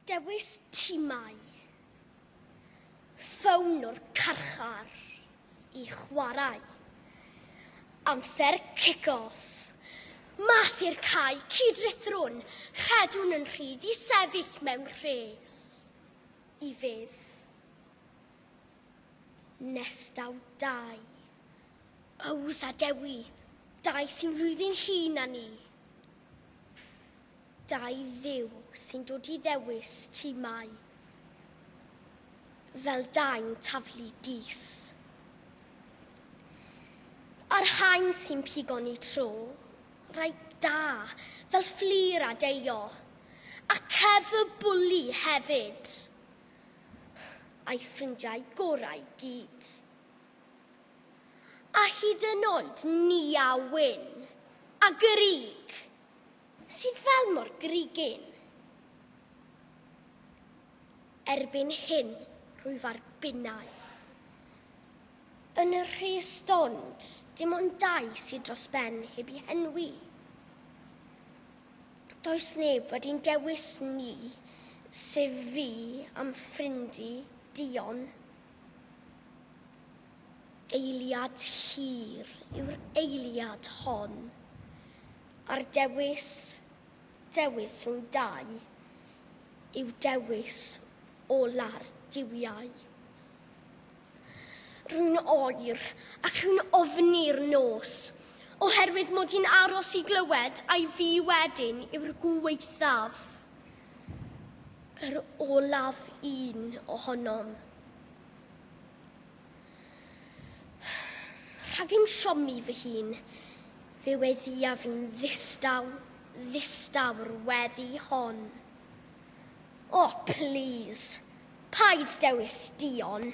Dewis timau. Ffôn o'r carchar i chwarae. Amser kick-off. Mas i'r cae, cyd-ruthrwn, rhedwn yn rhydd i sefyll mewn rhes. I fydd. Nestau dau. Ows a Dewi, dau sy'n flwyddyn hŷn na ni. Dau Dduw sy'n dod i ddewis ti mai fel dain taflu dys. A'r haen sy'n pigo'n i tro, rai da, fel fflir a deio, a cef y bwli hefyd, a'i ffrindiau gorau gyd. A hyd yn oed ni a wyn, a gryg! sydd fel mor grigyn. Erbyn hyn, rwyf ar binnau. Yn y rhe stond, dim ond dau sydd dros ben heb i henwi. Does neb wedi'n dewis ni, sef fi am ffrindi Dion. Eiliad hir yw'r eiliad hon, a'r dewis, dewis rhwng dau, yw dewis ola'r duwiau. Rwy'n oer ac rwy'n ofni'r nos, oherwydd mod i'n aros i glywed ai fi wedyn yw'r gwaethaf, yr olaf un ohonom. Rhag i'm siomi fy hun, fe weddiaf fi'n ddistaw, ddistaw'r weddi hon. O, oh, plîs, paid dewis Dion.